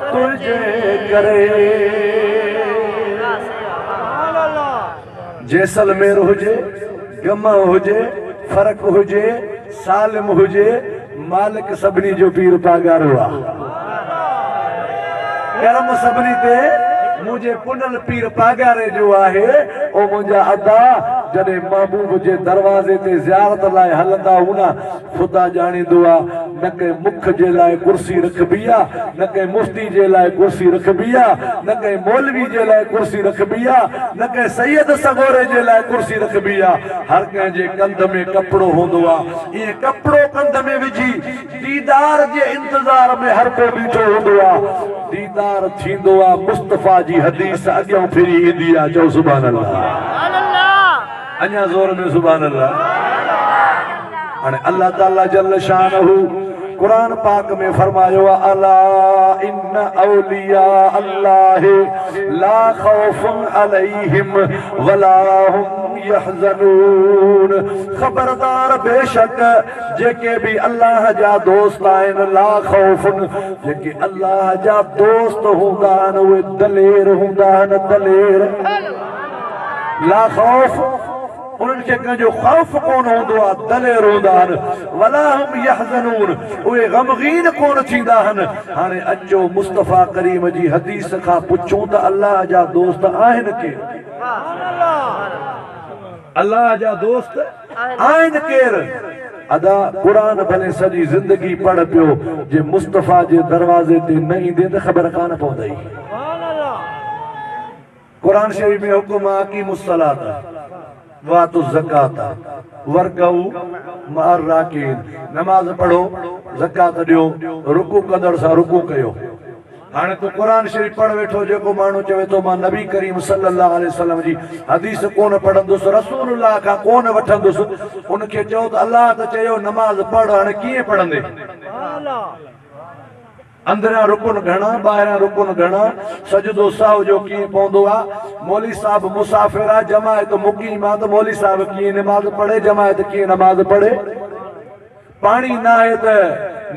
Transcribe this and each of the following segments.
تنهنجي ڪري جيسلمير هجي گمه هجي فرق هجي سالم هجي مالڪ سڀني جو پير پاڳارو آ ڪرم سڀني تي منهنجي پنل پير پاڳاري جو آهي او منهنجا ادا جڏهن محبوب جي دروازي تي زيارت لاء هلندا هوندا خدا ڄاڻيندو آ نه ڪنهن مک جي لاء ڪرسي رکبي آ نه ڪنهن مفتي جي لاء ڪرسي رکبي آ نه ڪنهن مولوي جي لاء ڪرسي رکبي آ نه ڪنهن سيد سڳوري جي لاء ڪرسي رکبي آ هر ڪنهن جي ڪنڌ ۾ ڪپڙو هوندو آ ائين ڪپڙو ڪنڌ ۾ وجهي ديدار جي انتظار ۾ هر ڪو بيٺو هوندو آ ديدار ٿيندو آ مصطفيٰ جي حديث اڳيئون ڦري ايندي آ چئو سبحان الله. اڃا زور ۾ سبحان الله. هاڻي الله تعالي جل شانه قرآن پاڪ ۾ فرمايو آهي الا ان اولياء الله لا خوف عليهم ولا هم يحزنون خبردار بيشڪ جيڪي به الله جا دوست آهن لا خوف جيڪي الله جا دوست هوندا آهن اهي دلير هوندا آهن دلير لا خوف، انهن کي ڪنهن جو خوف ڪونه هوندو آهي، دلير هوندا آهن، ولا هم يحزنون، اهي غمغين ڪونه ٿيندا آهن. هاڻي اچو مصطفيٰ ڪريم جي حديث کان پڇون ته الله جا دوست آهن ڪير؟ الله جا دوست آهن ڪير؟ ادا قرآن ڀلي سڄي زندگي پڙهه پيو، جي مصطفيٰ جي دروازي تي نه ايندين ته خبر ڪانه پوندئي. قرآن شريف ۾ حڪم آ اقيموا الصلاة وآتوا الزڪاة وارڪعوا مع الراڪعين نماز پڙهو زڪوات ڏيو رڪوع ڪندڙ سان رڪوع ڪيو هاڻي تون قرآن شريف پڙهه ويٺو جيڪو ماڻهو چوي ٿو مان نبي ڪريم صلي الله عليه وسلم جي حديث ڪونه پڙهندس رسول الله کان ڪونه وٺندس ان کي چئو ته الله ته چيو نماز پڙهه هاڻي ڪيئن پڙهندين. اندريان رڪن گهڻا، ٻاهريان رڪن گهڻا، سجدو سهو جو ڪيئن پوندو آ، مولوي صاحب مسافر آ، جماعت مقيم آ ته مولوي صاحب ڪيئن نماز پڙهي، جماعت ڪيئن نماز پڙهي، پاڻي ناهي ته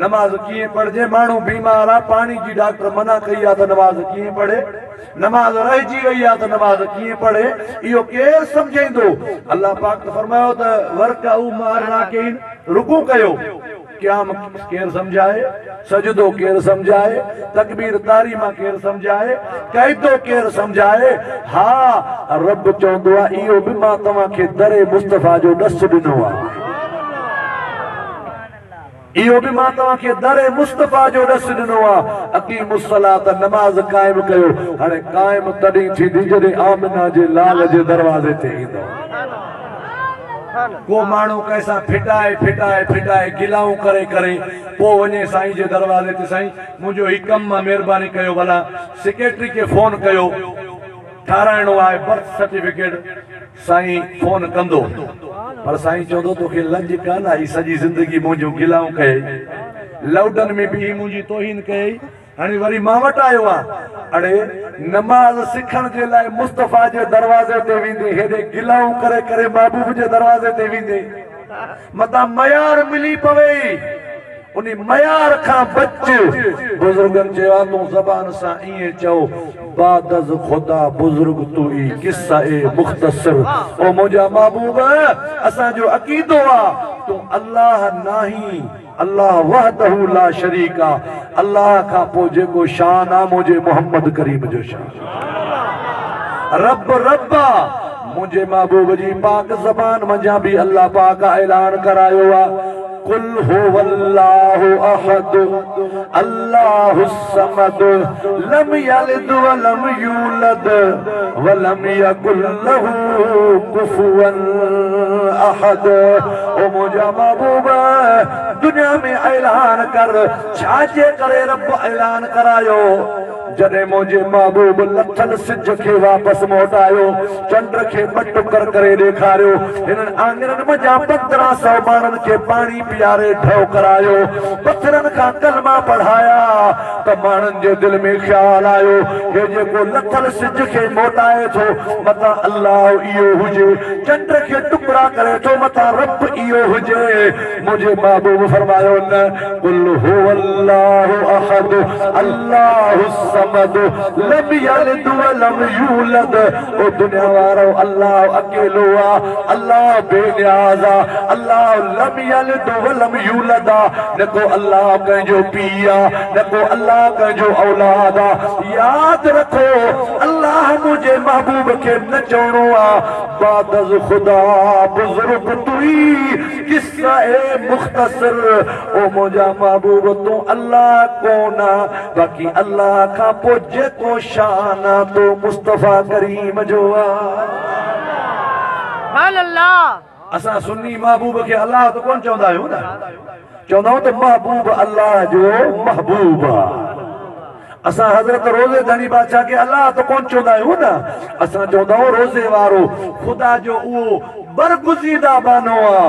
نماز ڪيئن پڙهجي، ماڻهو بيمار آ، پاڻي جي ڊاڪٽر منع ڪئي آ ته نماز ڪيئن پڙهي، نماز رهجي وئي آ ته نماز ڪيئن پڙهي، اهو ڪير سمجهائيندو، الله پاڪ ته فرمايو ته ورڪعو مع الراڪعين، رڪوع ڪيو. قيام ڪير سمجهائي، سجدو ڪير سمجهائي، تڪبير طاري مان ڪير سمجهائي، قعدو ڪير سمجهائي، ها رب چوندو آ اهو به مان توهان کي در مصطفيٰ جو ڏس ڏنو آ. اهو به مان توهان کي در مصطفيٰ جو ڏس ڏنو آ. اقيموا الصلاة نماز قائم ڪيو. هاڻي قائم تڏهن ٿيندي جڏهن آمنه جي لال جي دروازي تي ايندؤ. ڪو ماڻهو ڪنهن سان ڦٽائي ڦٽائي ڦٽائي گلائون ڪري ڪري پوء وڃي سائين جي دروازي تي سائين منهنجو هي ڪم مان مهرباني ڪيو ڀلا سيڪريٽري کي فون ڪيو ٺاهرائڻو آهي برٿ سرٽيفڪيٽ سائين فون ڪندو پر سائين چوندو توکي لڄ ڪانه آئي سڄي زندگي منهنجون گلائون ڪيئي لئوڊن ۾ بيهي منهنجي توهين ڪيئي هاڻي وري مان وٽ آيو آ. اڙي، نماز سکڻ جي لاء مصطفيٰ جي دروازي تي ويندين، هيڏي گلائون ڪري ڪري محبوب جي دروازي تي ويندين. متان ميار ملي پوي ئي، انهي ميار کان بچ. بزرگن چيو آ، تون زبان سان ائين چئو، بعداز خدا بزرگ تو ئي، قصه اي مختصر. او منهنجا محبوب! اسان جو عقيدو آ، تون الله ناهين. الله وحده لا شريڪ آ الله کان پوء جيڪو شان آ منهنجي محمد ڪريم جو شان آ رب رب آ منهنجي محبوب جي پاڪ زبان منجهان به الله پاڪ اعلان ڪرايو آ قل هو الله احد الله الصمد لم يلد ولم يولد ولم يڪن له ڪفوا احد او منهنجا محبوب دنيا ۾ اعلان ڪر ڇا جي ڪري رب اعلان ڪرايو جڏهن منهنجي محبوب لٿل سج کي واپس موٽايو چنڊ کي ٻه ٽڪر ڪري ڏيکاريو. هنن آڱرن منجهان پندرهن سؤ ماڻهن کي پاڻي پياري ڍؤ ڪرايو. پٿرن کان ڪلما پڙهايا ته ماڻهن جي دل ۾ خيال آيو، هي جيڪو لٿل سج کي موٽائي ٿو، متان الله اهو هجي. چنڊ کي ٽڪرا ڪري ٿو، متان رب اهو هجي. منهنجي محبوب فرمايو نه قل هو الله احد الله الصمد لم يلد ولم يولد او دنيا وارؤ الله اڪيلو آ الله بي نياز آ الله لم يلد ولم يولد آ نه ڪو الله ڪنهن جو پيء آ نه ڪو الله ڪنهن جو اولاد آ ياد رکو الله منهنجي محبوب کي نه چوڻو آ بعدز خدا بزرگ تئي قصه اي مختصر او منهنجا محبوب تون الله ڪون آ باقي الله کان پو جيڪو شان آ تو مصطفي ڪريم جو آ. اسان سني محبوب کي الله ته ڪون چوندا آهيون نه چوندا آهيون ته محبوب الله جو محبوب آ. اسان حضرت روضي ڌڻي بادشاهه کي الله ته ڪونه چوندا آهيون نه، اسان چوندا آهيون روضي وارو خدا جو اهو برگزيده ٻانهو آ،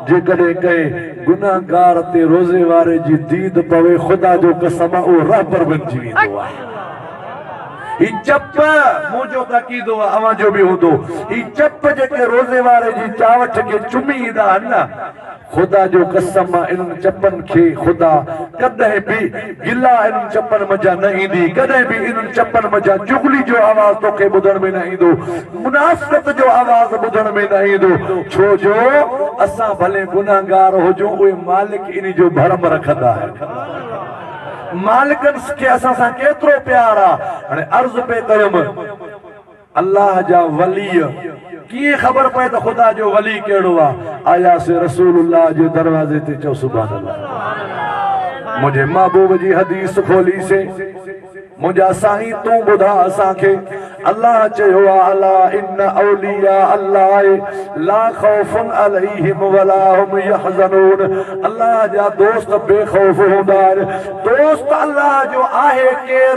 جيڪڏهن ڪنهن گنهگار تي روضي واري جي ديد پوي خدا جو قسم آ اهو رهبر بنجي ويندو آ. هي چپ، مون جو ته عقيدو آ اوهان جو به هوندو، هي چپ جيڪي روضي واري جي چاوٺ کي چمي ايندا آهن نه، خدا جو قسم مان انهن چپن کي خدا ڪڏهن به گلا انهن چپن منجهان نه ايندي ڪڏهن به انهن چپن منجهان چغلي جو آواز توکي ٻڌڻ ۾ نه ايندو منافقت جو آواز ٻڌڻ ۾ نه ايندو ڇو جو اسان ڀلي گنهگار هجون اهي مالڪ انهي جو ڀرم رکندا آهن مالڪن کي اسان سان ڪيترو پيار آ هاڻي عرض پئي ڪيم. الله جا وليء ڪيئن خبر پئي ته خدا جو ولي ڪهڙو آ آيا سي رسول الله جي دروازي تي چئو سبحان الله منهنجي محبوب جي حديث کولي سي منهنجا سائين تون ٻڌا اسان کي الله چيو آ الا ان اولياء الله لا خوف عليهم ولا هم يحزنون الله جا دوست بي خوف هوندا آهن دوست الله جو آهي ڪير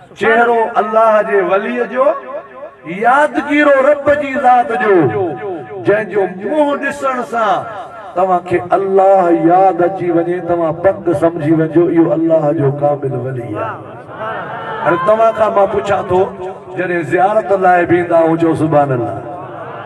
چهرو الله جي وليء جو، يادگيرو رب جي ذات جو، جنهن جو منهن ڏسڻ سان توهان کي الله ياد اچي وڃي، توهان پڪ سمجهي وڃجو اهو الله جو ڪامل ولي آهي. هاڻي توهان کان مان پڇان ٿو، جڏهن زيارت لاء به ايندا هجو سبحان الله!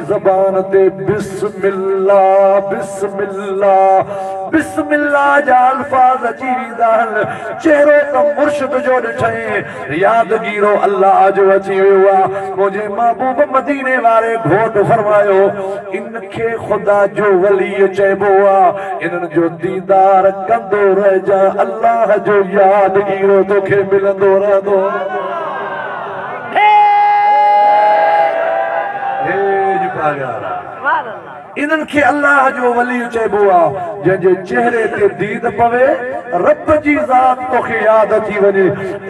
زبان تي بسم الله بسم الله بسم الله جا الفاظ اچي ويندا آهن چهرو ته مرشد جو ڏٺئين ياد گيرو الله جو اچي ويو آ منهنجي محبوب مديني واري گهوٽ فرمايو ان کي خدا جو ولي چئبو آ انهن جو ديدار ڪندو رهجان الله جو ياد گيرو توکي ملندو رهندو انهن کي الله جو ولي چئبو آ، جنهن جي چهري تي ديد پوي، رب جي ذات توکي ياد اچي وڃي.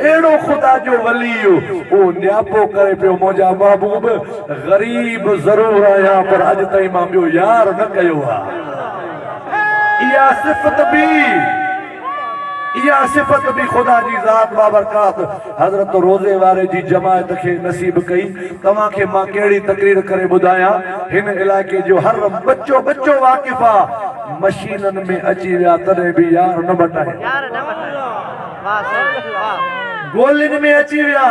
اهڙو خدا جو ولي اهو نياپو ڪري پيو منهنجا محبوب غريب ضرور آهيان پر اڄ تائين مان ٻيو يار نه ڪيو آ. اها صفت به. اها صفت به خدا جي ذات بابرڪات حضرت روضي واري جي جماعت کي نصيب ڪئي. توهان کي مان ڪهڙي تقرير ڪري ٻڌايان، هن علائقي جو هر ٻچو ٻچو واقف آ. مشينن ۾ اچي ويا تڏهن به يار نه مٽايا. گولين ۾ اچي ويا.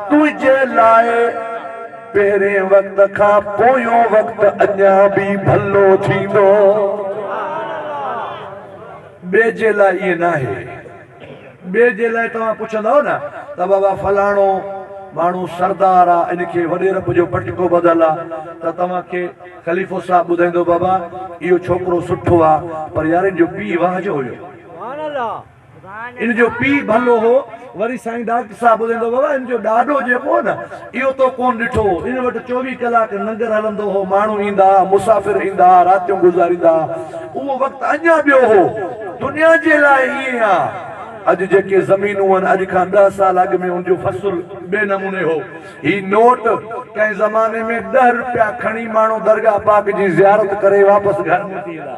تنهنجي لاء پهرين وقت کان پويون وقت اڃا به ڀلو ٿيندو. ٻئي جي لاء ائين ناهي. ٻئي جي لاء توهان پڇندؤ نه ته بابا فلاڻو ماڻهو سردار آ ان کي وڏيرپ جو پٽڪو ٻڌل آ ته توهان کي خليفو صاحب ٻڌائيندو بابا اهو ڇوڪرو سٺو آ پر يار ان جو پيء واهه جو هيو. ان جو پيء ڀلو هو. وري سائين ڊاڪٽر صاحب ٻڌائيندو هو، بابا ان جو ڏاڏو جيڪو هو نه، اهو تو ڪونه ڏٺو هو. ان وٽ چوويهه ڪلاڪ لنگر هلندو هو، ماڻهو ايندا ها، مسافر ايندا ها، راتيون گذاريندا ها. اهو وقت اڃا ٻيو هو. دنيا جي لاء ائين آ. اڄ جيڪي زمينون آهن، اڄ کان ڏهه سال اڳ ۾ ان جو فصل ٻئي نموني هو. هي نوٽ ڪنهن زماني ۾ ڏهه روپيا کڻي ماڻهو درگاهه پاڪ جي زيارت ڪري واپس گهر موٽي ايندا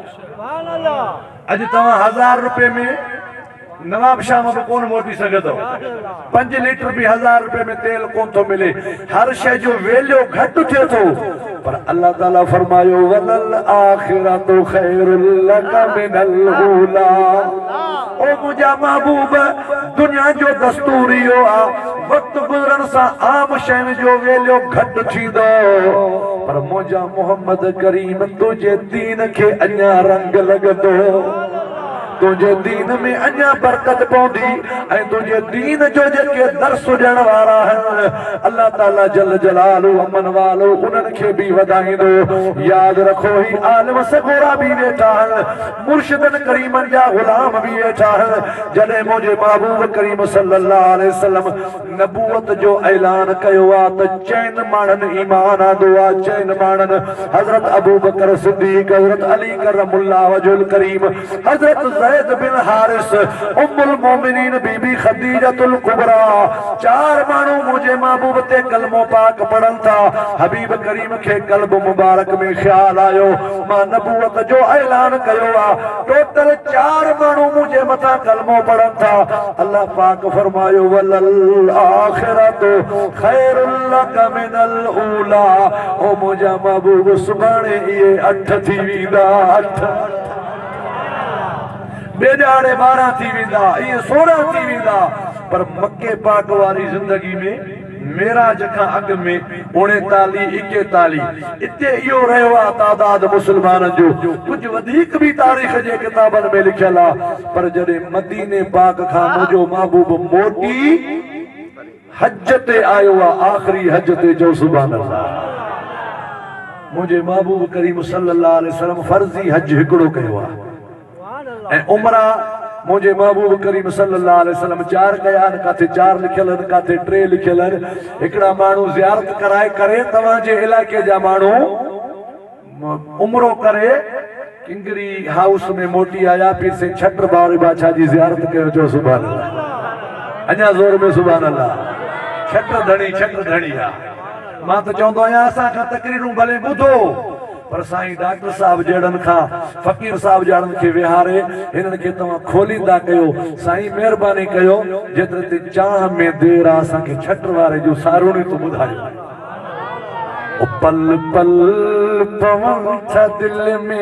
ها. اڄ توهان هزار روپيه ۾ نواب شاهه مان به ڪونه موٽي سگهندؤ. پنج ليٽر به هزار روپيه ۾ تيل ڪونه ٿو ملي. هر شيء جو ويليو گهٽ ٿئي ٿو. پر الله تعاليٰ فرمايو، وللآخرة خير لڪ من الاولٰي. او منهنجا محبوب! دنيا جو دستور اهو آ. وقت گذرڻ سان عام شين جو ويليو گهٽ ٿيندو پر منهنجا محمد ڪريم تنهنجي دين کي اڃا رنگ لڳندو تنهنجي دين ۾ اڃا برڪت پوندي ۽ تنهنجي دين جو جيڪي درس ڏيڻ وارا آهن الله تعالي جل جلاله امن والو انهن کي به وڌائيندو ياد رکو هي عالم سڳورا به ويٺا آهن مرشدن ڪريمن جا غلام به اهي چاهن، جڏهن منهنجي محبوب ڪريم صلّي اللّٰه عليه وسلّم نبوت جو اعلان ڪيو آ ته چئن ماڻهن ايمان آندو آ، چئن ماڻهن، حضرت ابوبڪر صدّيق، حضرت علي ڪرّم اللّٰه وجهه الڪريم، حضرت زيد بن حارث، ام المؤمنين بي بي خديجة الڪبريٰ، چار ماڻهو منهنجي محبوب تي ڪلمو پاڪ پڙهن ٿا، حبيب ڪريم کي قلب مبارڪ ۾ خيال آيو، مان نبوت جو اعلان ڪيو آ ٽوٽل چار ماڻهو منهنجي مٿان ڪلمو پڙهن ٿا الله پاڪ فرمايو وللاخرة خير لك من الاولٰي او منهنجا محبوب سڀاڻي اهي اٺ ٿي ويندا اٺ ٻيڄاڙي ٻارهن ٿي ويندا اهي سورهن ٿي ويندا پر مڪي پاڪ واري زندگي ۾ معراج کان اڳ ۾ اوڻيتاليهه ايڪيتاليهه اتي اهو رهيو آ تعداد مسلمانن جو ڪجهه وڌيڪ به تاريخ جي ڪتابن ۾ لکيل آ پر جڏهن مديني پاڪ کان منهنجو محبوب موٽي حج تي آيو آ آخري حج تي چئو سبحان الله منهنجي محبوب ڪريم صلي الله عليه وسلم فرضي حج هڪڙو ڪيو آ. ۽ عمرا، منهنجي محبوب ڪريم صلّي اللّٰه عليه وسلّم چار ڪيا آهن، ڪاٿي چار لکيل آهن، ڪاٿي ٽي لکيل آهن، هڪڙا ماڻهو زيارت ڪرائي ڪري توهان جي علائقي جا ماڻهو عمرو ڪري ڪنگري هائوس ۾ موٽي آيا، پير سين ڇٽر باوري بادشاهه جي زيارت ڪيو، چئو سبحان الله، اڃا زور ۾ سبحان الله، ڇٽر ڌڻي، ڇٽر ڌڻي آ، مان ته چوندو آهيان اسان کان تقريرون ڀلي ٻڌو. پر سائين ڊاڪٽر صاحب جهڙن کان فقير صاحب جهڙن کي ويهاري هنن کي توهان کوليندا ڪيو سائين مهرباني ڪيو جيتري تي چانهه ۾ دير آ اسان کي ڇٽ واري جون سارونيون ته ٻڌايو. او پل پل پون ٿا دل ۾.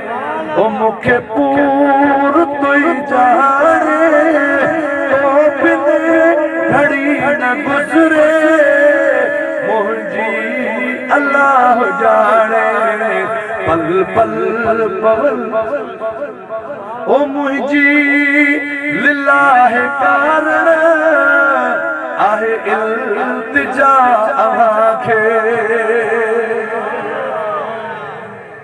او مون کي پور تئي چاڙهي تو بن گهڙي نه گذري منهنجي الله ڄاڻي پل پل پول او منهنجي لله ڪارڻ آهي التجا اوهان کي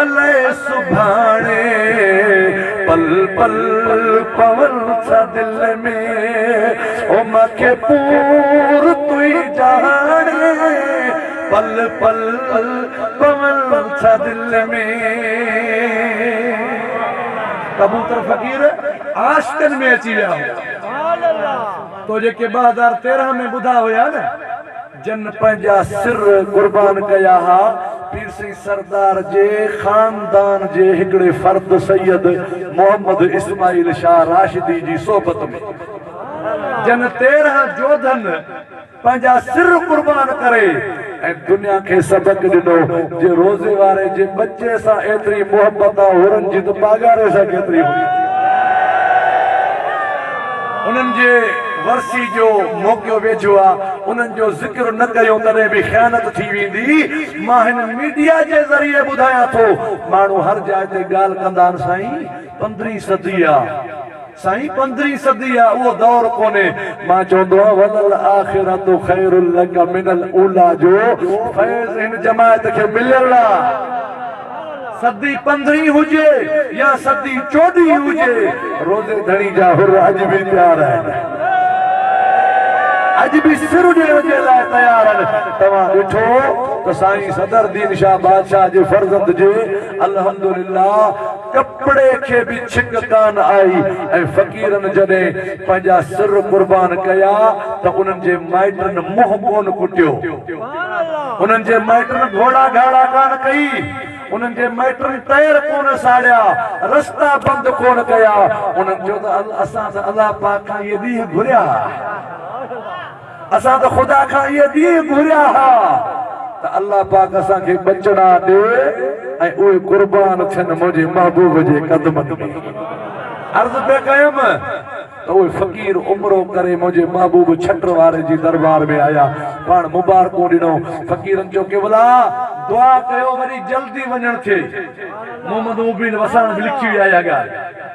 الائي سڀاڻي پل پل پون ڇا دل ۾ او مان کي پور توئي جهاڻي پل پل پون ڇا دل ۾ ڪبوتر فقير عاشقن ۾ اچي ويا هو تو جيڪي ٻه هزار تيرهن ۾ ٻڌا هيا نه. جن پنهنجا سر قربان ڪيا ها، پير سائين سردار جي خاندان جي هڪڙي فرد سيد محمد اسماعيل شاهه راشدي جي صحبت ۾ جن تيرهن جوڌن پنهنجا سر قربان ڪري ۽ دنيا کي سبق ڏنو جي روزي واري جي ٻچي سان ايتري محبت آ هورن جي ته پاڳاري سان ڪيتري هوندي انهن جي ورسي جو موقعو ويجهو آ انهن جو ذڪر نه ڪيون تڏهن به خيانت ٿي ويندي مان هن ميڊيا جي ذريعي ٻڌايان ٿو ماڻهو هر جاء تي ڳالهه ڪندا آهن سائين پندرهين صدي آ سائين پندرهين صدي آ اهو دور ڪونهي مان چوندو آهيان وللاخرة خير لک من الاوليٰ جو فيض هن جماعت کي مليل آ. صدي پندرهين هجي يا صدي چوڏهين هجي روزي ڌڻي جا حر اڄ به پيار آهن اڄ به سر ڏيڻ جي لاء تيار آهن توهان ڏٺو ته سائين صدر دين شاهه بادشاهه جي فرزند جي الحمدلله ڪپڙي کي به ڇڪ ڪان آئي ۽ فقيرن جڏهن پنهنجا سر قربان ڪيا ته انهن جي مائٽن منهن ڪون ڪٽيو انهن جي مائٽن گهوڙا گهاڙا ڪانه ڪئي، انهن جي مائٽن ٽائر ڪونه ساڙيا، رستا بند ڪونه ڪيا، انهن چيو ته اسان ته الله پاڪ کان اهي ڏينهن گهريا ها، اسان ته خدا کان اهي ڏينهن گهريا ها ته الله پاڪ اسان کي ٻچڙا ڏي ۽ اهي قربان ٿين منهنجي محبوب جي قدمن ۾ عرض پئي ڪيم ته اهي فقير عمرو ڪري منهنجي محبوب ڇٽر واري جي دربار ۾ آيا، پاڻ مبارڪون ڏنو. فقيرن چيو، قبلا! دعا ڪيو وري جلدي وڃڻ ٿئي. محمد مبين وساڻ به لکي ويا اها ڳالهه.